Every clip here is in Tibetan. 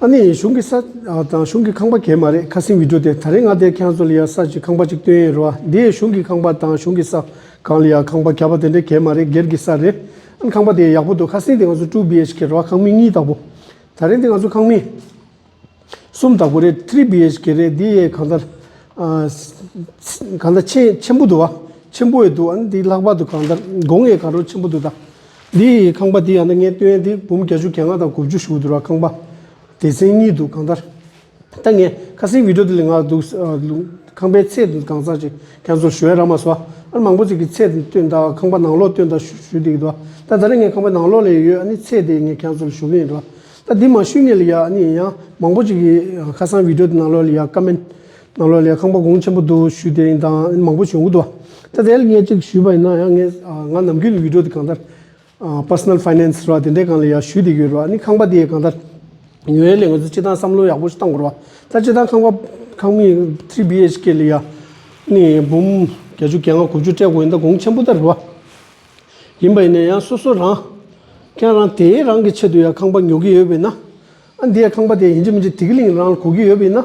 ཨ་ནེ་ཡིས་གཞུང་གི་ས། དང་གཞུང་གི་ཁང་པ་གས་མ་རེད་ཁ་སིང་བིད་འགྲོ་དེ་ད་རེ་ང་དེ་ཁྱང་ཚོ་ལ་ཡ་ས་ཅིག་ཁང་པ་ཅིག་སྟོན་ཡས་རེད་བ་དེ་གཞུང་གི་ཁང་པ་དང་གཞུང་གི་ས། གང་ལ་ཡ་ཁང་པ་གས་པ་དེ་འདྲས་གས་མ་རེད་སྒེར་གི་ས་རེད་ཨན་ཁང་པ་དེ་ཡག་པོ་འདུག་ཁ་སིང་དེ་ང་ཚོ་ཏྲུ་བྷི་ཨེཆ་ཁེ་རེད་བ་ཁང་མིག་གཉིས་དག་པོ། ད་རེ་འདི་ང་ཚོ་ཁང་མིག། གསུམ་དག་པོ་རེད་ཐྲི་བྷི་ཨེཆ་ཁེ་རེད་འདི་ཡས་གང་ད། གང་ད་ཆེན་ཆེན་པོ་འདུག་བ་ཆེན་པོ་ཡས་འདུག་ཨན་འདི་ལྷག་པ་དུ་གང་ད་སྒོང་ཡས་གང་རོ་ཆེན་པོ་འདུག་ད། འདི་ཡི་ཁང་པ་འདི་ཡང་ན་ངའི་སྟོད་ཡན་འདི་འབུམ་གྱ་བཅུ་གྱ་ལྔ་དང་དགུ་བཅུ་ཞུགས་འདུག་ར་ཁང་པ་སྡེ་ཚན་གཉིས་འདུག་གང་ལྟར་ད་ངས་ཁ་སིང་བིད་འགྲོ་འདི་ལས་ངག་འདུག་ཁང་པའི་ཚད་དུ་གང་ཚང་ཅིག་རྒྱ་མཚོར་ཞུ་བས་ར་མ་ཟོ་ཨར་མང་པོ་ཅིག་གི་ཚད་དུ་སྟོད་མདའ་ཁང་པ་ནང་ལོགས་སྟོད་མདའ་ཞུ་ཞུ་འདི་ཡི་འདུག་ད་ད་རེས་ངས་ཁང་པའི་ནང་ལོགས་ལས་ཡོད་ཨ་ནི་ཚད་དེ་ངས་གྱ་མཚོར་ཞུ་གི་ཡི་འདུག་ད་འདི་མ་ཞུས་ངས་ལ་ཡ་ཨ་ནི་ཡིན་ཡང་མང་པོ་ཅིག་གིས་ཁ་སང་བིད་འགྲོ་འདི་ནང་ལོགས་ལ་ཡ་ཀ་མེན། གནམ་ལོ་ལས་ཁང་པ་གུང་ཆེན་པོ་དུ་བཞུས་ཏེ་ཡིན་དང་མང་པོ་བྱུང་གི་འདུག་ད་དེ་ལ་ངས་གཅིག་བཞུས་པ་ཡིན་ན་ཡང་ང་ནམ་རྒྱུན་ཡུལ་གྲོ་དེ་གང་ལྟར Personal Finance ར་དེ་འདྲས་གང་ལ་ཡང་བཞུས་དེ་ཡོད་རོགས་ནི་ཁང་པ་དེ་གང་ལྟར་ཉོ་ཡས་ལས་ངོས་ཚོ་སྤྱི་ཐང་བསམ་བློ་ཡག་པོ་ཞིག་གཏང་དགོས་རོགས་ད་སྤྱི་ཐང་ཁང་པ་ཁང་མིག Three BHK ལ་ཡང་ནི་འབུམ་གྱ་བཅུ་གྱ་ལྔ་གོ་བཅུ་སྤྲད་དགོས་ཡིན་ད་གུང་ཆེན་པོ་ལྟར་རོགས་ཡིན་པ་ཡིན་ན་ཡང་སོ་སོ་རང་ཁྱེད་རང་དེའི་རང་གི་ཆེད་དུ་ཡང་ཁང་པ་ཉོ་གི་ཡོད་པ་ཡིན་ན་ཨ་འདི་ཡང་ཁང་པ་དེ་ཡིན་གྱི་མིན་གྱི་དེ་གི་ལིང་རང་ལ་གོ་གི་ཡོད་པ་ཡིན་ན།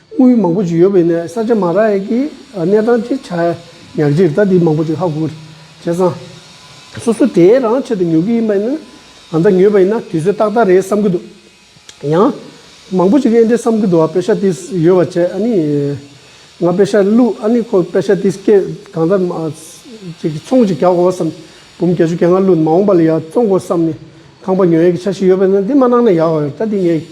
དངུལ་མང་པོ་ཞིག་ཡོད་པའི་གནས་ས་ཆ་མ་ར་ཡེ་ཀི་གནས་སྟངས་ཅི་ཆ་ཉག་གཅིག་རེད་ད་དེ་མང་པོ་ཅིག་ཧ་གོ་རེད་བྱས་ཙང། སོ་སོ་དེ་རང་ཆེད་དུ་ཉོ་གི་ཡིན་པ་ཡིན་ན་ང་ད་ཉོས་པ་ཡིན་ན་དུས་ཚོད་ཏག་ཏག་རེད་བསམ་གི་འདུག་ཡང། མང་པོ་ཅིག་གིས་ཨེ་འདྲས་བསམ་གི་འདུག་ཨ་པེ་ཤ་ཏིས་ཡོད་བ་བྱས་ཨ་ནི། ང་ཨ་པེ་ཤ་བླུག་ཨ་ནི་ཁོ་པེ་ཤ་ཏིས་སྐད་གང་ལྟར་མ། ཅིག་ཚོང་ཅིག་རྒྱག་གོ་བསམ། འབུམ་བརྒྱ་ཅུ་གྱ་ལྔ་བླུག་མ་འོངས་པ་ལ་ཡང་བཙོང་གོ་བསམ་ནས་ཁང་པ་ཉོ་ཡ་གི་ཆ་ཞིག་ཡོད་པ་ཡིན་ན་དེ་མ་གནང་ན་ཡག་ཨོ་ད་དེ་ངས་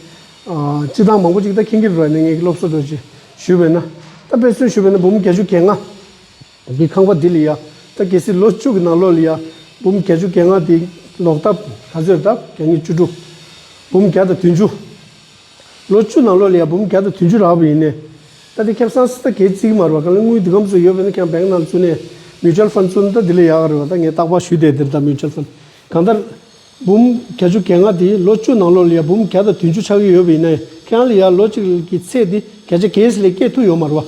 སྤྱི་བཏང་མང་པོ་ཅིག་ད་ཁྱེད་ཀྱིས་རོལ་ནས་ངེད་ཀྱི་སློབ་གསོ་དགོས་ཅེས་ཞུས་པས་ན། ད་དཔེ་མཚོན་ཞུ་བས་ན་འབུམ་བརྒྱ་ཅུ་གྱ་ལྔ། གི་ཁང་པ་འདི་ལ་ཡང་ད་གལ་སྲིད་ལོ་བཅུ་གྱི་ནང་ལོ་ལ་ཡང་འབུམ་བརྒྱ་ཅུ་གྱ་ལྔ་དེ་ལོག་ད། ད་གཟོད་ད་གྱ་གཉིས་བཅུ་དྲུག། འབུམ་བརྒྱ་དང་དུས་འཇུ། ལོ་བཅུ་ནང་ལོ་ལ་ཡང་འབུམ་བརྒྱ་དང་དུས་འཇུ་རག་པ་ཡིན་ནས། ད་དེ་ཁྱབ་སངས་སེ་ད་གལ་སྲིད་མར་བ་གང་ལས་དངུལ་འདི་གམ་སུ་ཡོད་པས་ན་ཁྱང་བེང་ནང་ལ་བཅུག་ནས Mutual Fund བཙུགས་ན་ད་འདི་ལ་ཡག་རེད་བ་ད་ངས་རྟག་པར་ཞུས་དེ་དེར་ད Mutual Fund གང་ལྟར་འབུམ་གྱ་བཅུ་གྱ་ལྔ་དེ་ལོ་བཅུ་ནང་ལོ་ལ་ཡར་འབུམ་གྱ་དང་དུས་མཇུག་ཆགས་ཀྱི་ཡོད་པ་ཡིན་ན་ཡང་ཁྱེད་རང་ལ་ཡར་ལོ་གཅིག་གི་ཚེ་དེ་གྱ་ཆ་གས་སི་ལས་སྐྱེས་ཐུག་ཡོང་མ་རུ་བ།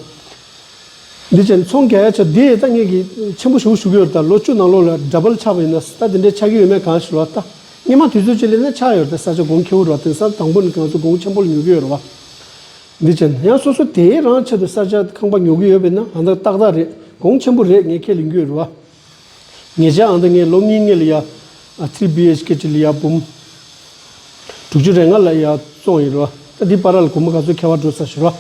འདི་ཆེ་མཚུངས་གྱ་ཡ་ཆ་དེ་ད་ངེད་ཀྱི་ཆེན་པོ་ཞུགས་ཞུགས་ཀྱི་ཡོད་ད་ལོ་བཅུ་ནང་ལོ་ལ་འདྲ་པར་ཆགས་པ་ཡིན་ན་ད་དེ་འདྲ་ཆགས་ཀྱི་ཡོད་མེད་གང་ཞིག་ལ་བལྟ། སྙེ་མ་དུས་ཚོད་ཅིག་ལས་ན་ཆགས་ཡོད་ད་ས་ཆ་དགོང་ཁྱེའུ་རུ་བ་དེང་སང་དང་པོ་ནས་གང་ཚུ་དགོང་ཆེན་པོ་ལ་ཉོ་གི་ཡོད་རུ་བ། འདི་ཆེ་ཡང་སོ་སོ་དེའི་རང་ཆེད་དུ་ས་ཆ་ཁང་པ་ཉོ་གི་ཡོད་པས་ན་གང་ད་ཏག་ཏག་རེད་དགོང་ཆེན་པོ་རེད་ངས་ཁྱེད་ལ་འགྱུས་རུ་བ། ངེད་ཅག་ཨང་ཏི་ངེ་ལོ་ལྔའི་ངེད་ལ་ཡ། Three BHK ཁྲི་ལ་ཡ་འབུམ། དྲུག་ཅུ་རེ་ལྔ་ལ་ཡ་བཙོང་ཡིན་རོ། ཨ་ཏི་པ་ར་ལ་གུང་མོ་ག་ཚོད་ཁ་བ་འགྲོ་ས་ཞུ་རོ།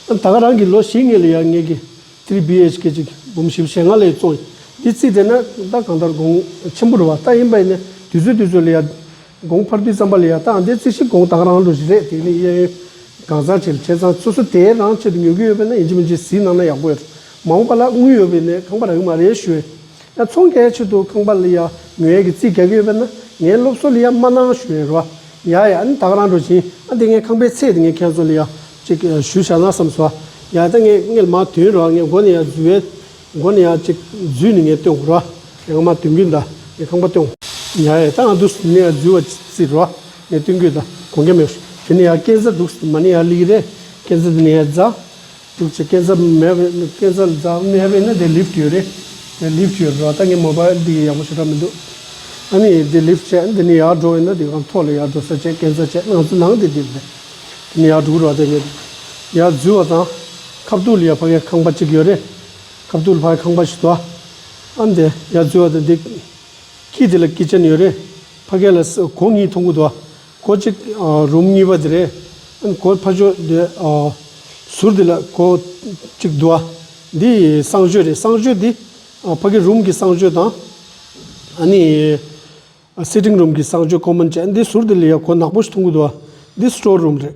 ད་ག་རང་གི་ལོ་བཞི་ངེད་ལ་ཡ་ངེད་ཀྱི། Three BHK གཅིག་འབུམ་བཞི་བཞེ་ལྔ་ལ་ཡ་བཙོང་ཡིན། འདི་ཚིག་དེ་ན་ད་གང་ལྟར་དགོངས། ཆེན་པོ་རུ་བ་ད་ཡིན་པ་ཡིན་ནས་དུས་ཚོད་དུས་ཚོད་ལ་ཡ། དགོངས་འཕར་དུས་བརྩམས་པ་ལས་ཡང་དག་འདས་ཚུལ་ཞིག་དགོངས་དག་རང་ལུགས་རེད་དེ་ནི་གཡས་གཡོན་གང་ཚང་ཆེ་ལ་ཆེ་ཚང་སོ་སོ་དེའི་རང་ཆེད་དུ་ཉོ་གི་ཡོད་པས་ན་ཡིན་གཅིག་མིན་གཅིག་གཟིགས་གནང་ན་ཡག་པོ་ཡོད། མ་འོངས་པ་ལ་དངུལ་ཡོད་པའི་ནས་ཁང་པ་རག་གི་མ་རེད་ཞུ། ཡང་ཚོང་ཁའི་ཆེད་དུ་ཁང་པ་ལ་ཡང་ཉོ་ཡས་ཀྱི་རྩིས་རྒྱག་གི་ཡོད་པས་ན་ངའི་སློབ་གསོ་ལ་ཡང་མ་གནང་ཞུ་ཡས་རོ། ཡ་ཡ་ཨ་ནི་དག་རང་འགྲོ་བཞིན་ཨ་འདི་ངའི་ཁང་པའི་ཚད་དེ་ངས་ཁྱེད་ཚོ་ལ་ཡང་གཅིག་ཞུ་བྱ་ན་བསམས་སོ། ཡ་ད་ངས་ངས་ལ་མ་དོན་རོགས་ངས་མགོ་ནས་ཡང་བཟུ་བས། མགོ་ནི་ཡང་གཅིག། རྫུས་ནི་ངས་བཏོན། ར་ཡང་མ་བཏོན་གུས་འདའ། ངས་ཁང་པ་བཏོན། ཉལ་ཡས་ཏང་འདུག་ནི་ཡང་རྫུས་བ་རྩི། ར་ངས་བཏོན་གུས་འདའ། གོང་གི་མེ་ཧྲི། དེ་ནི་ཡང་རྐན་རྩ་འདུག་མ་ནི་ཡང་ལིག་རེད། རྐན་རྩ་དེ་ནི་ཡང་རྫ། འདུག་ཅེས་རྐན་རྩ་མེད་པས་ནི་རྐན་རྩ་རྫ་མེད་པས་ནི་དེ་ལིབ་ཡོད་རེད། དེ་ལིབ་ཡོད་ར་ད་ངས་མོ་པ་འདི་ཡག་པོ་བྱེད་ར་མི་འདུག། ཨ་ནི་དེ་ལིབ་བྱས་འདི་ནི་ཡག་འགྲོ་བས་ནི་དེ་གང་ཐོག་ལ་ཡག་འགྲོ་ས་བྱས་རྐན་རྩ་བྱས་ནང་ཚུ་ནང་དེ་དེ་རེད། དེ་ནི་ཡག་འགྲོ་གུ་ར་ད་ངས། ཡག་རྫུས་བ་དང། ཁབ་ཏུ་ལི་ཡ་ཕ་གའི་ཁང་པ་གཅིག་ཡོད་རེད། ཁབ་ཏུ་ལི་ཕ་གའི་ཁང་པ་ཞིག་ཏུ་ཨ་ཨམ་དེ་ཡར་འཛུལ་བ་དང་དེ་ཁྱི་དེ་ལ་སྐེ་ཅན་ཡོད་རེད། ཕ་གས་ལ་གོ་གཉིས་མཐོང་གི་འདུག་ཨ་གོ་གཅིག་རུམ་གཉིས་པ་དེ་རེད། ཨ་གོ་ཕ་ཞོ་དེ་ཟུར་དེ་ལ་གོ་གཅིག་འདུག་ཨ་འདི་གསང་སྤྱོད་རེད་གསང་སྤྱོད་འདི་ཕ་གའི་རུམ་གྱི་གསང་སྤྱོད་དང་ཨ་ནི་སིཏིང་རུམ་གྱི་གསང་སྤྱོད་ཀོ་མོན་བཅས་འདི་ཟུར་དེ་ལི་ཡ་གོ་ནག་པོ་ཞིག་མཐོང་གི་འདུག་ཨ་འདི་སི་ཏོར་རུམ་རེད།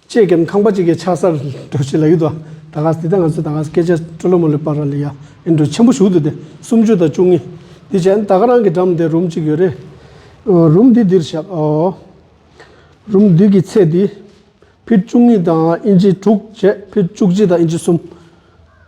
ཅེས་ཀེམ་ཁང་པ་ཅིག་གི་ཆགས་སར་འགྲོ་བྱེད་ལ་ཡུལ་དུ་ད་ག་ཟི་ད་ང་ཟི་ད་ག་ཟི་སྐད་ཆ་ཀྲོ་ལོ་མོ་ལི་པ་ར་ལི་ཡ་ཨེ་འདྲུ་ཆེན་པོ་བཞུགས་འདུག་སྟེ་སུམ་ཅུ་དང་བཅུ་གཉིས། དེ་བྱས་ན་ད་ག་རང་གི་འགྲམ་དེར་རུམ་ཅིག་ཡོད་རེད། རུམ་འདི་འདིར་བཞག་ཨོ། རུམ་བདུད་ཀྱི་ཚད་འདི། ཕིར་བཅུ་གཉིས་དང་ཨིན་ཇི་དྲུག་བྱས་ཕིར་བཅུ་གཅིག་དང་ཨིན་ཇི་གསུམ།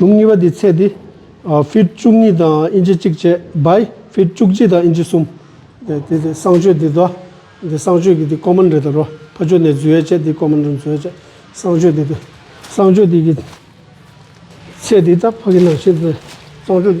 ལུགས་གཉིས་པ་དེའི་ཚད་དེ། ཧྥིར་བཅུ་གཉིས་དང་དབྱིན་ཇི་གཅིག་བཅས་བ྄། ཧྥིར་བཅུ་གཅིག་དང་དབྱིན་ཇི་གསུམ། དེ་དེ་དེ་གསང་སྤྱོད་དེ་དོ། དེ་གསང་སྤྱོད་ཀྱི་དེ་ཀོ་མན་རེ་དོ་རོ། ཕ་ཆོས་ནས་རྫུས་ཡས་བཅས་དེ་ཀོ་མན་རེ་རྫུས་ཡས་བཅས་གསང་སྤྱོད་དེ་དེ། གསང་སྤྱོད་དེ་ཀྱི་ཚད་དེ་ད་ཕ་གི་ནང་ཤིང་དེ་གསང་སྤྱོད།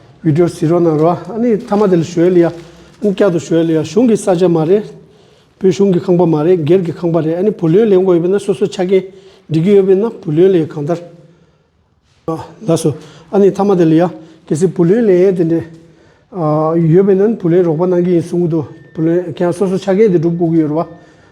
བྷི་དྲོ་སི་རོ་ན་རོ་ཨ་ནི་ཐ་མ་དེ་ལ་ཞོའི་ལི་ཡ་ཨན་ཀྱ་དུ་ཞོའི་ལི་ཡ་གཞུང་གི་ས་ཆ་མ་རེད་བོད་གཞུང་གི་ཁང་པ་མ་རེད་སྒེར་གི་ཁང་པ་རེད་ཨ་ནི་བུ་ལོན་ལེན་དགོས་ཡོད་པས་ན་སོ་སོའི་ཆ་རྐྱེན་འགྲིག་གི་ཡོད་པས་ན་བུ་ལོན་ལེན་གང་ལྟར་ལ་སོ་ཨ་ནི་ཐ་མ་དེ་ལི་ཡ་གལ་སྲིད་བུ་ལོན་ལེན་དེ་འདྲས་ཡོད་པས་ན་བུ་ལོན་རོགས་པ་གནང་གི་ཡིན་གསུང་གི་འདུག་བུ་ལོན་ཁྱེད་རང་སོ་སོའི་ཆ་རྐྱེན་དེ་སྒྲུབ་དགོས་ཀྱི་ཡོད་རེད་བ།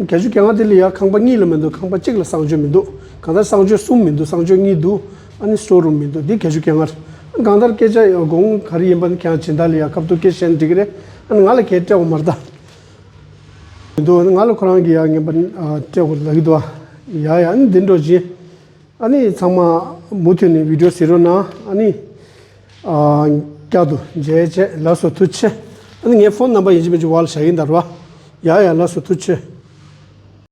རྒྱ་ཆུ་ག་ང་དེ་ལ་ཡང་ཁང་པ་གཉིས་ལ་མི་འདུག་ཁང་པ་གཅིག་ལ་གསང་སྤྱོད་མི་འདུག་གང་ལྟར་གསང་སྤྱོད་གསུམ་མི་འདུག་གསང་སྤྱོད་གཉིས་འདུག་ཨ་ནི་སོ་རུམ་མི་འདུག་འདི་རྒྱ་ཆུ་ག་ང་རེད། གང་ལྟར་སྐད་ཆ་དགོངས་ག་རེ་ཡིན་པ་ནི་ཁྱེད་རང་ཇི་ལྟར་ལ་ཡང་ཁབ་ཐུག་སྐད་བཤད་ན་འགྲིག་གི་རེད། ཨ་ནི་ང་ལ་ཁྱེད་སྤྲད་འོང་མ་རེད། མི་འདུག་ཨ་ནི་ང་ལ་ཁོ་རང་གིས་ཡང་ངན་པ་སྤྲད་འོང་ལ་གི་འདུག་ཨ་ཡ་ཡ་ཨ་ནི་འདི་འགྲོ་བཞིན་ཨ་ནི་ཚང་མ་མུ་མཐུད་ནས་བིད་འགྲོ་ཟེར་རོ་ན་ཨ་ནི། བསྐྱར་དུ་མཇལ་བཅས་ལགས་སོ་ཐུགས་ཆེ། ཨ་ནི་ངའི་ཕོན་རྣམ་པ་ཡིན་གཅིག་མིན་གཅིག་བར་ལ་བྱ་ཡིན་དར་བ། ཡ་ཡ་ལགས་སོ་ཐུགས་ཆེ།